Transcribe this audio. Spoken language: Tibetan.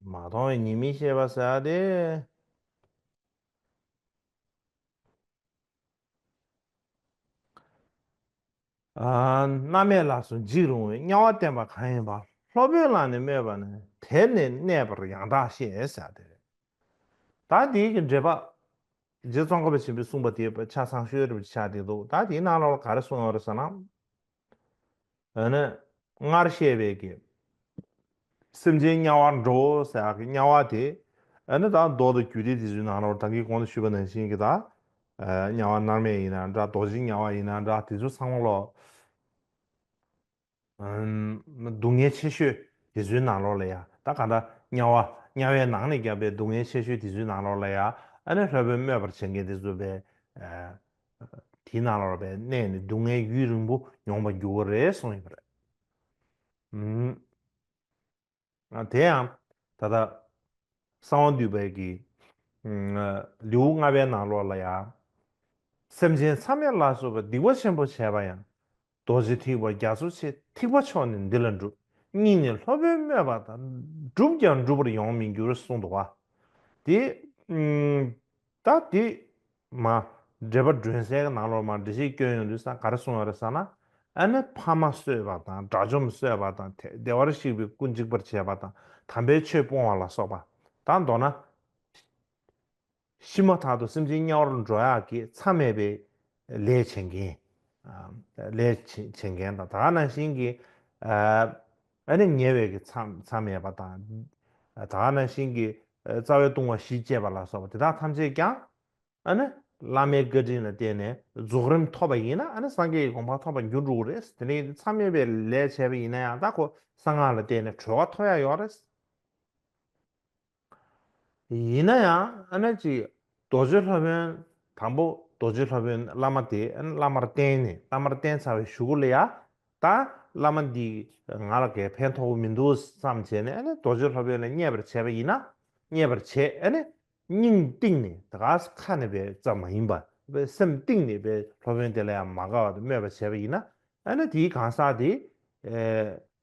མ་མཐོང་བའི་ཉིད་མི་ཤེས་པར་ཟད་དེ། རྣམ་མེད་ལགས་སུ་འཇིགས་རུང་བའི་དམྱལ་བ་བསྟན་པ་གང་ཡིན་པ་སློབ་དཔོན་ལ་ནི་སྨོས་པ་ནི་དེར་ནི་གནས་པར་ཡང་དག་ཤེས་ཟད་དེ། ད་དེའི་གི་འགྲེལ་པ། རྗེ་ཙོང་ཁ་པ་ཆེན་པོས་གསུངས་པ་དེའི་ཕྱག་ཚང་ཤོའི་རིམ་གྱི་ཕྱག་འདི་འདུག་ད་དེའི་ནང་ལ་བར་ག་རེ་གསུང་ཡོང་རེ་ཟེར་ན། འདི་ནི་སྔར་བཤད་པའི་གི། སེམས་ཅན་དམྱལ་བར་འགྲོ་ཟེར་བ་གི་དམྱལ་བ་དེ། འདི་ནི་དང་ཟློག་ཏུ་གྱུར་ཏེ་དེ་ཚོའི་ནང་རོར་བདག་གིས་གོང་དུ་ཞུས་པ་ནང་བཞིན་གྱི་དང། དམྱལ་བ་མནར་མེད་ཡིན་ན་འདྲ་རྡོ་རྗེའི་དམྱལ་བ་ཡིན་ན་འདྲ་དེ་ཚོའི་ཚང་མ་ལོ། སྡུག་བསྔལ་ཆེ་ཤོས་དེ་ཚོའི་ནང་རོ་ལ་ཡ་ད་ག་འདྲ་དམྱལ་བ་དམྱལ་བའི་ནང་ནས་བསྐྱབས་པའི་སྡུག་བསྔལ་ཆེ་ཤོས་དེ་ཚོའི་ནང་རོ་ལ་ཡ་ནི་ལྷའི་བུ་སྨོད་པར་བྱེད་མཁན་དེ་ཚོ་བས། དེའི་ནང་ལ་རོལ་པའི་གནས་ནི་སྡུག་བསྔལ་ཡུན་རིང་པོ་མྱོང་བར་འགྱུར་བ་རེད་གསུངས་ཡོད་པ་རེད། དེ་ཡང་ད་ལྟ་གསང་བ་འདུས་པའི་གི་ལེའུ་ལྔ་པའི་ནང་ལོགས་ལ་ཡང། སེམས་ཅན་མཚམས་མེད་ལ་སོགས་པའི་སྡིག་པ་ཆེན་པོ་བྱས་པ་ཡང་རྡོ་རྗེ་ཐིགས་པ་རྒྱ་མཚོ་ཆེ་ཐིགས་པ་མཆོག་ནི་འདི་ལ་འགྲུབ་སྙིང་ནས་ལྷོ་བོན་སྨོད་པ་དང་བསྒྲུབས་ཀྱང་འགྲུབ་པར་ཡོང་མི་འགྱུར་གསུངས་འདུག་བ། དེ། ད་དེ། མ། འགྲེལ་པ་སྒྲོན་གསལ་གྱི་ནང་ལོགས་མར་འགྲེལ་བཤད་སྐྱོན་ཡོང་དུས་ས་ག་རེ་གསུངས་ཡོད་རེད་ཟེར་ན། ཨ་ནེ་ཕ་མ་གསོད་པ་དང་དགྲ་བཅོམ་གསོད་པ་དང་ཐེག་བདེ་བར་གཤེགས་པའི་སྐུ་འཇིག་པར་བྱེད་པ་དང་དམ་པའི་ཆོས་སྤོང་བ་ལ་སོགས་པ། དང་མདོར་ན། ཤི་མ་ཐག་ཏུ་སེམས་ཅན་དམྱལ་བར་འགྲོ་ཡག་གི་མཚམས་མེད་པའི་ལས་བྱེད་མཁན། ལས་བྱེད་མཁན་དང་དག་སྣང་ཞིང་གི་ཨ་ནི་ཉེ་བའི་གི་མཚམས་མེད་པ་དང། དག་སྣང་ཞིང་གི་རྩ་བའི་ལྟུང་བ་བཞི་སྤྱད་པ་ལ་སོགས་པ་དེ་དག་ཐམས་ཅད་ཀྱང་ཨ་ནི་བླ་མའི་བཀའ་དྲིན་ལ་བརྟེན་ནས་རྫོགས་རིམ་ཐོབ་པ་ཡིན་ན་ཨ་ནི་སངས་རྒྱས་ཀྱི་དགོངས་པ་ཐོབ་པར་འགྱུར་འགྲོ་བོ་རེད། དེ་ནས་མཚམས་མེད་པའི་ལས་བྱས་པ་ཡིན་ན་ཡང་དག་གོ་ས་སྔགས་ལ་བརྟེན་ནས་གྲོལ་བ་ཐོབ་ཡག་ཡོག་རེད། ཡིན་ན་ཡང་ཨ་ནེ་ཅིག་རྡོ་རྗེ་ལྷ་བོན་དང་པོ་རྡོ་རྗེ་ལྷ་བོན་བླ་མ་དེས་བླ་མར་བསྟེན་ནས་བླ་མར་བསྟེན་ཚར་བའི་ཞུ་གུ་ལ་ཡ་ད་བླ་མ་འདིས་ང་ལ་གས་ཕན་ཐོགས་པོ་མི་འདུག་བསམ་བྱས་ནས་རྡོ་རྗེ་ལྷ་བོན་ལ་བརྙས་པར་བྱས་པ་ཡིན་ན་བརྙས་པར་བྱས་སྙིང་གཏིང་ནས་ད་ག་ས་ཁ་ནས་པའི་རྩ་མ་ཡིན་པ་སེམས་གཏིང་ནས་པའི་ལྷ་བོན་དེ་ལ་ཡང་མ་དགའ་བ་དེ་སྨོད་པར་བྱས་པ་ཡིན་ན་ཨ་ནེ་དེའི་གང་ཟག་དེ